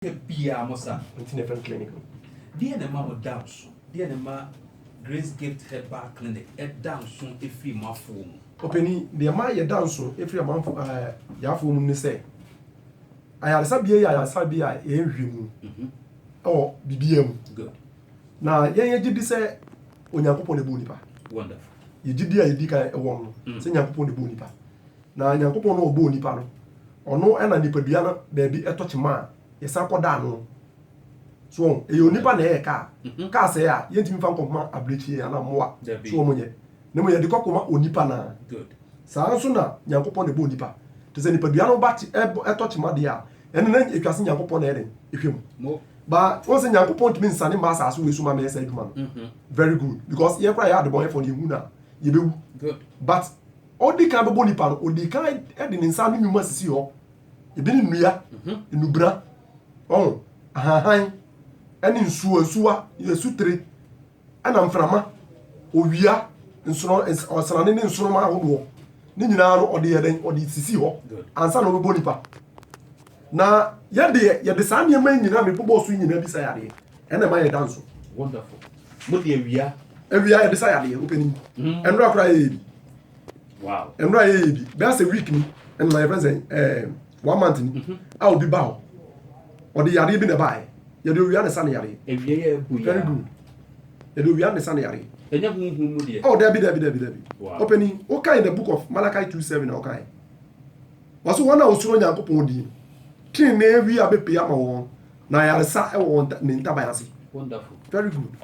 Da biara mo sa. Nti na ɛfrɛ no clinic no. Deɛ na ɛma mo da nso? Deɛ na ɛma Grace Gift Herbal Clinic da nso firi mo afoɔ mu? Ɔpanin, deɛ ɛma yɛda nso firi amanfo ɛɛ yɛn afoɔ mu ne sɛ, ayaresabea yi yɛ ayaresabea a yɛnhwɛ mu wɔ biribiara mu. Good. Na yɛn yɛgye di sɛ Onyankopɔn na ɛbɔɔ nipa. Wonderful. Yɛn gyidie a yɛdi kan wɔ no, sɛ Nyankopɔn na ɛbɔɔ nipa. Na Nyankopɔn no a ɔbɔɔ nipa no, ɔno na nipadua no baabi tɔ kyema a, yɛsan kɔda ano. So wɔn? Ɛyɛ onipa na ɛyɛ kaa. Mhm. Kaa sɛɛ a, yɛntumi mfa nkɔma abirekyie anaa mmoa. Dabi. So wɔn nyɛ? Na mmom yɛde kɔ kɔma onipa no ara. Good. Saa nso na Nyankopɔn na ɛbɔɔ nipa. Te sɛ nipadua no ba kye, ɛbɔ, ɛtɔ kyema deɛ a, ɛno na ɛtwa se Nyankopɔn na ɛyɛ dɛn? Ɛhwɛ mu. Mo. Ba, wɔn sɛ Nyankopɔn ntumi nsane mma asaase wei so ma mɛyɛ saa adwuma no. Mhm. Very good. Because yɛn koraa yɛyɛ adebɔnyɛfoɔ no, yɛhu no a, yɛbɛwu. Good. But Ɔdi kan bɛbɔ nipa no, ɔdi kan de ne nsa ne nnwuma sisi hɔ. Ebi ne nnua, mhm. nnubra, ɔn, ahanhan, ɛne nsuo, nsuwa, asutire, ɛna mframa, owia, nsono, ɔsrane ne nsoroma ahodoɔ. Ne nyinaa no ɔde yɛ dɛn? Ɔde sisi hɔ ansa na ɔbɛbɔ nipa. Na yɛ deɛ, yɛde saa nneɛma yi nyina a mebobɔɔ so yi nyina bi sa yadeɛ, ɛna ɛma yɛda nso. Wonderful. Mo de awia. Awia yɛde sa yadeɛ, wo panin. Mm. Ɛnora koraa yɛyɛ bi. Wow. Ɛnora yɛyɛ bi. Bɛyɛ sɛ week ni, ɛnora yɛfrɛ sɛ eh, one month ni, mm-hmm. a obi ba hɔ. Ɔde yadeɛ bi na ɛbaeɛ. Yɛde owia na ɛsa ne yadeɛ. Awia yɛ abu ya. Very good. Yɛde owia na ɛsa ne yadeɛ. Ɛnyɛ huhu mu deɛ. Oh, dabi, dabi, dabi, dabi. Wow. Ɔpanin, wokae in the book of Malachi 2:7 na wokae. Ɔse wɔn a wɔsuro Nyankopɔn din no, trenee wia bɛpue ama wɔn, na ayaresa wɔ wɔn ne ntaban ase. Wonderful. Very good.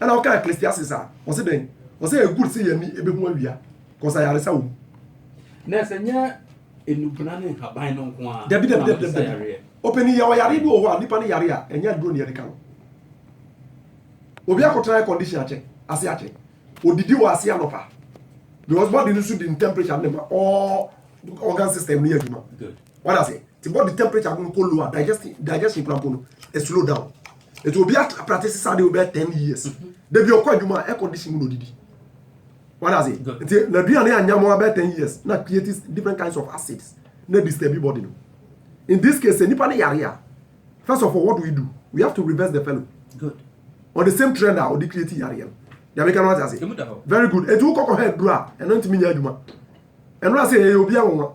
Ɛna ɔka Ecclesiastes a, ɔse dɛn? Ɔse ɛyɛ good sɛ yɛn ani bɛhu awia, cause ayaresa wɔ mu. Nurse, ɛnyɛ nnubena ne nhaban no nko ara Dabi, dabi, na dabi, wɔde sa dabi, dabi. yareɛ. Ɔpanin, yɛwɔ yareɛ bi wɔ hɔ a, nnipa no yare a, ɛnyɛ aduro na yɛde ka no. Obi akɔtena air condition akyɛ, ase akyɛ. Odidi wɔ ase anɔpa because body no nso di ne temperature ne ma all organ system no yɛ adwuma wada ase ti body temperature no kɔ low a digestion digestion kura mpo no e slow down etu obi at practice saa de o bɛ ten years mm-hmm. debi ɔkɔ adwuma air condition mu na odidi wada ase nti na aduane anya mo abɛ ten years na create different kinds of acids na disturb body no in this case nipa ne yare a First of all, what do we do? We have to reverse the fellow. Good. Or the same trend a ɔde create yareɛ no. Nyame ka no ate ase. Very good. Eti wokɔkɔ hɛ duro a, ɛno ntumi nyɛ adwuma. Ɛno ase ɛyɛ obi anwanwa.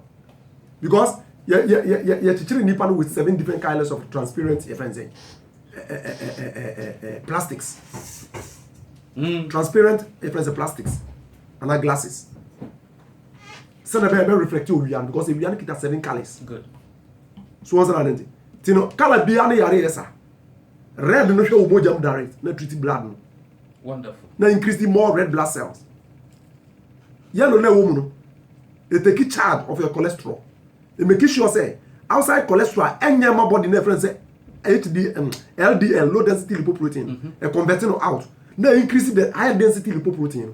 Because yɛkyekyere nipa no with seven different colors of transparent yɛfrɛ n sɛ plastics. Mm. Transparent yɛfrɛ n sɛ plastics. Ana glasses. sɛdeɛ ɛbɛyɛ ɛbɛ reflect owia no because ewia no kita seven colours so wɔn sɛdeɛ nante ti no colour bia no yare yɛ sa red no hwɛ wɔn mogya mu direct na treat blood no wonderful na increase more red blood cells yellow na ɛwɔ mu no it take charge of your cholesterol it make sure sɛ outside cholesterol ɛnyɛ ma body na ɛfrɛ sɛ HDL, um, LDL, low density lipoprotein, mm -hmm. converting out. Now increase the high density lipoprotein.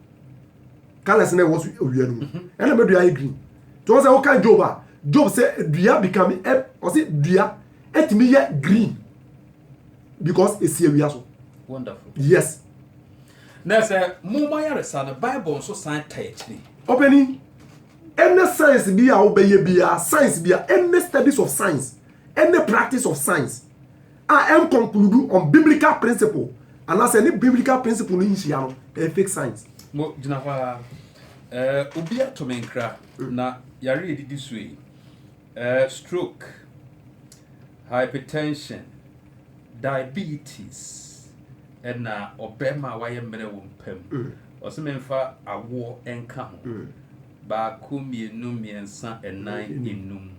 colors na ɛwɔ so owia no mu mhm. ɛna mɛ dua ayɛ green tí wọn sɛ wọn kan job a job sɛ dua become ɛ ɔsɛ dua ɛtumi yɛ green because esi awia so. wonderful yes. na sɛ mo mo ayaresa no bible nso san ka akyiri. ɔpɛni ɛnɛ science bi a wobɛyɛ biara science bi a ɛnɛ studies of science ɛnɛ practice of science. a ɛnkonkludu on biblical principle anaasɛ ne biblical principle no nhyia no, ɛyɛ fake science. Mo gyina hɔ ara. Ɛɛ obi ato me nkra mm. na yare a edidi so yi ɛɛ stroke, hypertension, diabetes ɛna ɔbɛrima a wayɛ mmerɛ wɔ mpa mu mm. ɔsɛ memfa awoɔ nka ho mm. baako mmienu mmiɛnsa ɛnan enum.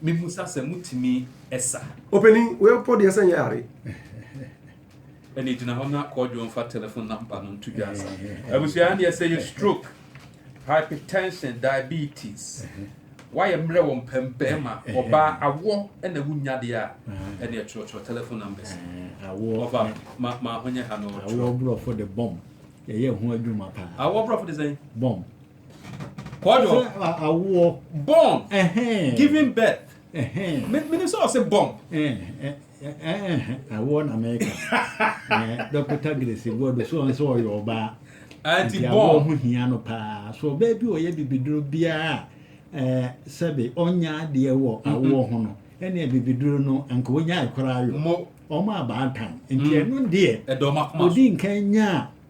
Mihu sa sɛ mutumi sa. Opanin, wo yɛ pɔ deɛ sɛ nyɛ are. Ɛne gyina hɔ na kɔɔdwo mfa telephone number no nto dwa sa. Abusua deɛ sɛ yɛ stroke, hypertension, diabetes, wayɛ mmerɛ wɔ mpam bɛrima, ɔbaa, awɔ na wunya deɛ a, ɛne ɛtwerɛtwerɛ telephone numbers. Ɔfa ma ma ho nyɛ ha no ɔtwerɛ. Awɔ brɔfo de bɔm. Yɛyɛ ho adwuma paa. Awɔ brɔfo de sɛn? Bɔm. kɔdɔ ɔsɛ awoɔ born giving birth menim sɛ ɔsɛ born awoɔ na mɛka dɔkota grace guado so ɔn sɛ ɔyɛ ɔbaa nti awoɔ ho hia no paa so ɔbaa bi ɔyɛ bibiduro biara sɛbe ɔnya adeɛ wɔ mm-hmm. awoɔ ho no ɛne bibiduro no anka ɔnya ɛkora ayɔ ɔma abaatan nti mm. ɛno deɛ ɔdi nkan nyaa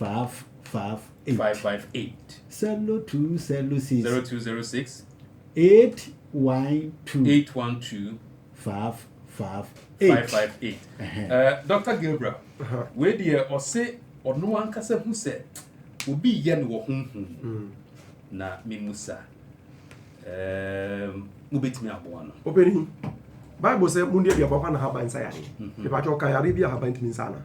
Faaf faaf eight. Faaf faaf eight. Sɛlo two sɛlo six. Zero two zero six. Eight one two. Eight one two. Faaf faaf eight. Faaf faaf eight. Ɛɛ Dɔkta Gabriel, wei deɛ ɔse ɔno ankasa hu sɛ obi yɛ no wɔ honhom mu. Hmm. Na memusa ɛɛm mobɛtumi aboa no. Ɔpɛni, Bible sɛ mo nnuaduaba hɔ na haban nsa yare. Mepatwa ɔka yare bi a haban tumi nsa ana?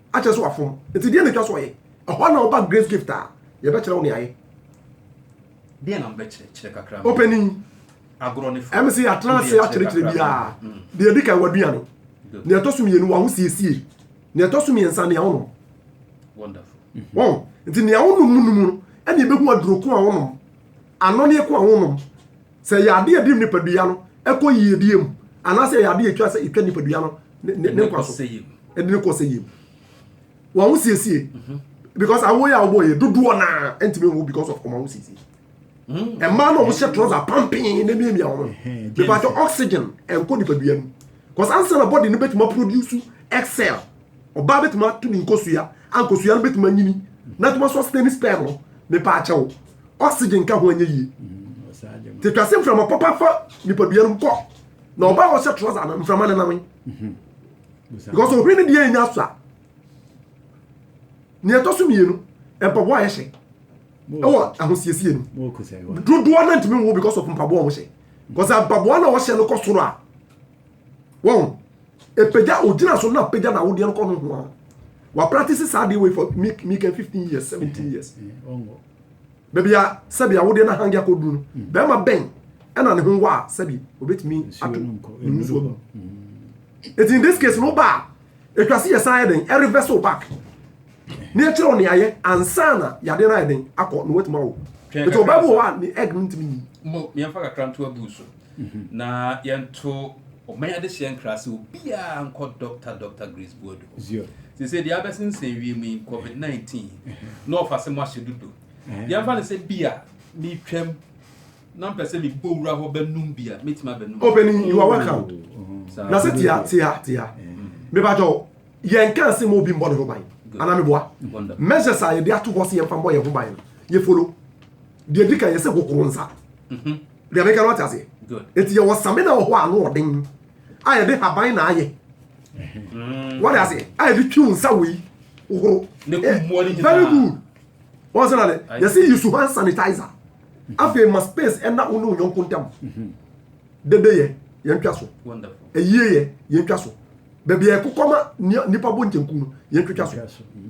akyerɛ sɛ wafom. Nti deɛ na ɛtwa so ɔyɛ. Ɛhɔ na woba Grace Gift a, yɛbɛkyerɛ wo nea ayɛ. Deɛ na mobɛkyerɛ kyerɛ kakra. Opanin, ɛme sɛ yɛatena ase akyerɛkyerɛ biara. Deɛ ɛdi kan, w'aduane. Nea ɛtɔ so mmienu, w'ahosiesie. Nea ɛtɔ so mmiɛnsa, nea wonom. Wɔn, nti nea wonom mu nom no, ɛna ɛbɛhu aduro ko a wonom, anɔneɛ ko a wonom. Sɛ ɛyɛ ade a ɛde nipadua no kɔ yiedie mu, anaasɛ ɛyɛ ade a ɛtwa sɛ ɛtwa nipadua no ne nkwa so, ɛde no kɔ sɛ yie mu. Wɔn ho siesie, mhm. because awo yɛ awo yɛ dodoɔ naa ntumi nwo because of wɔn ho siesie. Mm. Mmaa no a wɔhyɛ trɔsa pampin na miamia wɔn. Bɛbɛ atɔ oxygen ɛnkɔ nipadua mu, because ansa na body no bɛtumi aproduce excel Ɔbaa bɛtumi ato ne nkosua a nkosua no bɛtumi anyini na atumi aso asena ne sperm no mepa akyɛ wo oxygen ka ho anyɛ yie mm, te twase mframa papa fa nipadua no kɔ na ɔbaa ɔhyɛ trɔsa no mframa no nam mhm. because ohwere no deɛ ɛnya so a nea ɛtɔ so mmienu mpaboa a yɛhyɛ ɛwɔ ahosiesie no dodoɔ no ntumi nwo because of mpaboa a wɔhyɛ because mpaboa na wɔhyɛ no kɔ soro a wɔn epagya ogyina so na apagya na awodeɛ no kɔ no ho a wapractice saa adeɛ wei for me me can fifteen years seventeen years baabi a sɛbi awodeɛ na hangi akɔduru no mm. bɛrima bɛn ɛna ne ho wɔ a sɛbi obetumi ato ne ho nsuo no mm. eti in this case no ba a etwa se yɛ san yɛ den ɛrevɛs o back ne ɛkyerɛ o ne ayɛ ansa na yadeɛ no ayɛ den akɔ na wɔatuma o eti ɔbaa bi wɔ hɔ a ne egg no ntumi yi. mo yɛn fa kakra nto abu so. na yɛnto ɔman adehyeɛ nkra sɛ obiara nkɔ Dɔkta Dɔkta Grace Boadu hɔ. Seesei deɛ abɛsensɛn wiem yi, COVID 19, na ɔfa sɛ moahyɛ dodo. Yɛmfa no sɛ bi a metwam na mpɛ sɛ mebɔ wura hɔ bɛnum bi a, mɛtumi abɛnum. Ɔpanin, you are welcome. Na sɛ tia tia tia. Mebakyɛ o, yɛnka ase ma obi mbɔ ne ho ban. Anaa meboa? Measures a yɛde ato hɔ sɛ yɛmfa mbɔ yɛn ho ban no, yɛfolo. Deɛ ɛdi kan yɛ sɛ hohoro nsa. Mhm. Deɛ meka no ate aseɛ. Eti yɛ wɔ samina wɔ hɔ a ano ɔden a yɛde haban na ayɛ. Mm. Wɔde aseɛ a yɛde twi nsa wɔ yi hohoro. Ne ko mmoa ne eh, nyinaa. Very good. Wɔn sɛ na de yɛsi yi su hand sanitizer. Mhm. Afei ma space ɛna wo ne onyɔnko ntam. Mhm. Dede yɛ yɛn twa so. Eyie yɛ yɛn twa so. Baabi yɛ kokɔ ma nipa bɔ nkyenku no yɛn twitwa so.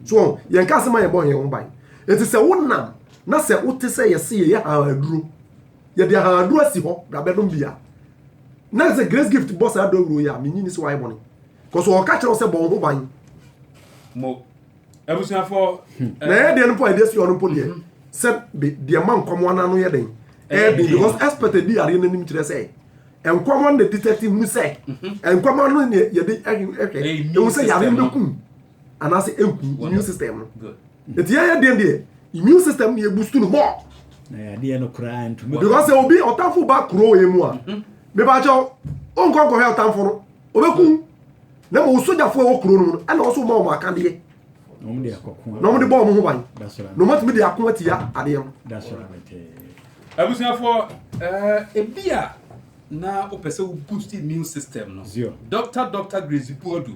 So yɛn ka asɛm a yɛn bɔ yɛn ho ban. Eti sɛ wonam Na sɛ wote sɛ yɛse yɛyɛ hann aduro, yɛde hann aduro asi hɔ na bɛnom bi a, na sɛ Grace Gift bɔ saa dawuro yi a, menyi ni sɛ wayɛ bɔne. Kɔso ɔka kyerɛ wo sɛ bɔ wo ho ban. Mo. Abusuafo. Na ɛyɛ deɛ no mpo a ɛde asi hɔ no mpo deɛ mhm. sɛ de deɛ ma nkwamoa no ano yɛ den. Ɛyɛ den because expert adi yareɛ no anim kyerɛ sɛ nkwamoa no na detect hu sɛ mhm. nkwamoa no yɛde hwɛ ɛhu sɛ yareɛ no bɛkum anaasɛ ɛgu immune system no ɛti yɛyɛ deɛ deɛ immune system ne ɛbustu no mɔ because obi ɔtamfo ba kuro wɔ mu a mebakyɛw wonkɔ nkɔhwɛ ɔtamfo no ɔbɛku na ma ɔsogyafoɔ ɛwɔ kuro no mu no ɛna ɔso ma ɔmɔ akadeɛ na ɔmde bɔ ɔmo ho ban na ɔmatumi de ako atia adeɛ no abusuafoɔ ebi a na wopɛ sɛ wo boost immune system no dr dr grace buadu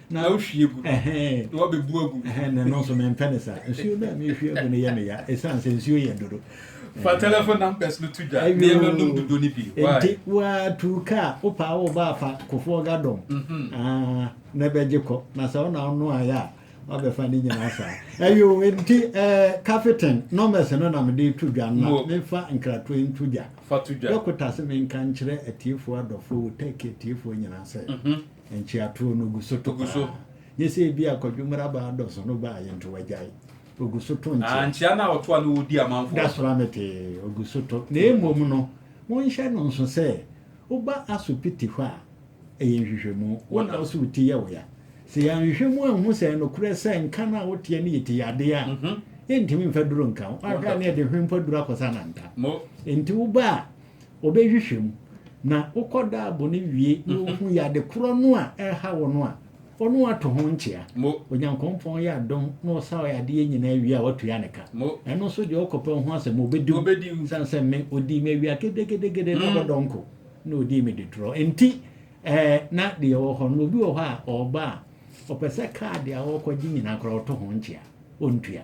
Na wohwie gu na woabebu agu. Na ɛno nso mempɛ no saa. Nsuo no a mehwie agu no yɛ me ya ɛsiane sɛ nsuo yɛ dodo. Fa telephone numbers no to dwa. Nneɛma nom dodo no bi. Why? Nti woatu kaa wopaa wo ba afa Kofoɔ Gadong ah, na ɛbɛgye kɔ. Na sɛ wo na wonoaeɛ a woabɛfa ne nyinaa saa. Ɛyɛ o, nti eh, Kafiten numbers no na mede reto dwa na memfa nkratoɔ nto dwa. Fa to dwa. Dɔkota se menka nkyerɛ atiefoɔ adɔfoɔ, wo Turkey atiefoɔ nyinaa sɛ. Nkyerɛtoɔ no gu so to Ogu so. paa. Nyɛ sɛ ebi a Kwadwo mmara baa dɔ so no baa yɛ nti wagyae. Ogu so to Ah, nkyea. nkyea no a ɔto a na ɔdi amanfoɔ. Da so ara mete ogu so to. Na mmom no, monhyɛ no nso sɛ woba asopiti hɔ a, ɛyɛ nhwehwɛmu. Wo na wo se wo ti yɛ wo ya. Sɛ yɛanhwehwɛ mu anhu sɛ ɛyɛ nokorɛ sɛ nka no a woteɛ no yɛ ti yadeɛ a, yɛntumi mfa duro nka wo. Woahwɛ a na yɛde hwempa duro akɔsa no anka. Mo. Enti woba a, ɔbɛhwehwɛ mu. Na wokɔ daabo no wie na ɔhu yɛ ade korɔ no a ɛreha wo no a, ɔno ato ho nkyea. Onyankopɔn yɛ adom na ɔsa ɔyɛ adeɛ nyinaa wie a watua ne ka. Ɛno nso deɛ ɔkɔpɛ ho asɛm ɔbɛdi wo. Sane sɛ me ɔdii me awia gedegedegede na ɔbɔ dɔnko na ɔdii me detorɔ nti ɛɛ na deɛ ɛwɔ hɔ no obi wɔ hɔ a ɔba a ɔpɛ sɛ kaa deɛ ɔrekɔgye nyinaa koraa ɔto ho nkyea ɔntua.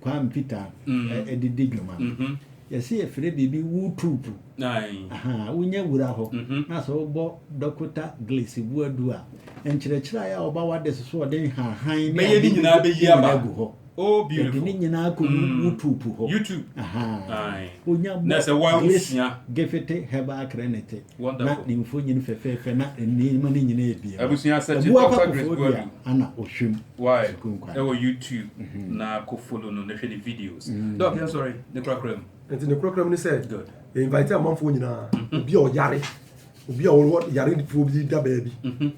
Kwame Peter de di dwuma no, yɛse yɛfrɛ biribi Wootroop. Wonya wura hɔ na sɛ wobɔ Dɔkota Glace Boadu a, nkyerɛkyerɛe a ɔba w'adese so ɔde nhahan ne ade nyinaa bɛyi agu hɔ. Yɛde ne nyinaa kɔ Wootroop hɔ. Wonya bɔ Glace Gifete Herbal Crenite. na ne mfonyin fɛfɛɛfɛ na nneɛma no nyinaa abien no, ɛboa pa Koforidua du a ana ɔhwɛ mu Why? sukuu nkwa Ɛwɔ no. YouTube Mhm. na kɔ follow no na hwɛ ne videos. Doc, yɛn sɔre ne korakora mu. Nti ne korakora mu ne sɛ, Good. yɛ invite amanfoɔ nyinaa, obi a ɔyare, obi a ɔwɔ yarefoɔ bi da baabi,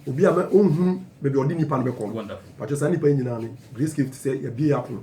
obi a mɛ ɔnhunu baabi a ɔde nipa no bɛkɔ no. Wonderful. Pakyɛ saa nipa yi nyinaa no, Grace Cave te sɛ yɛabie yɛ apono.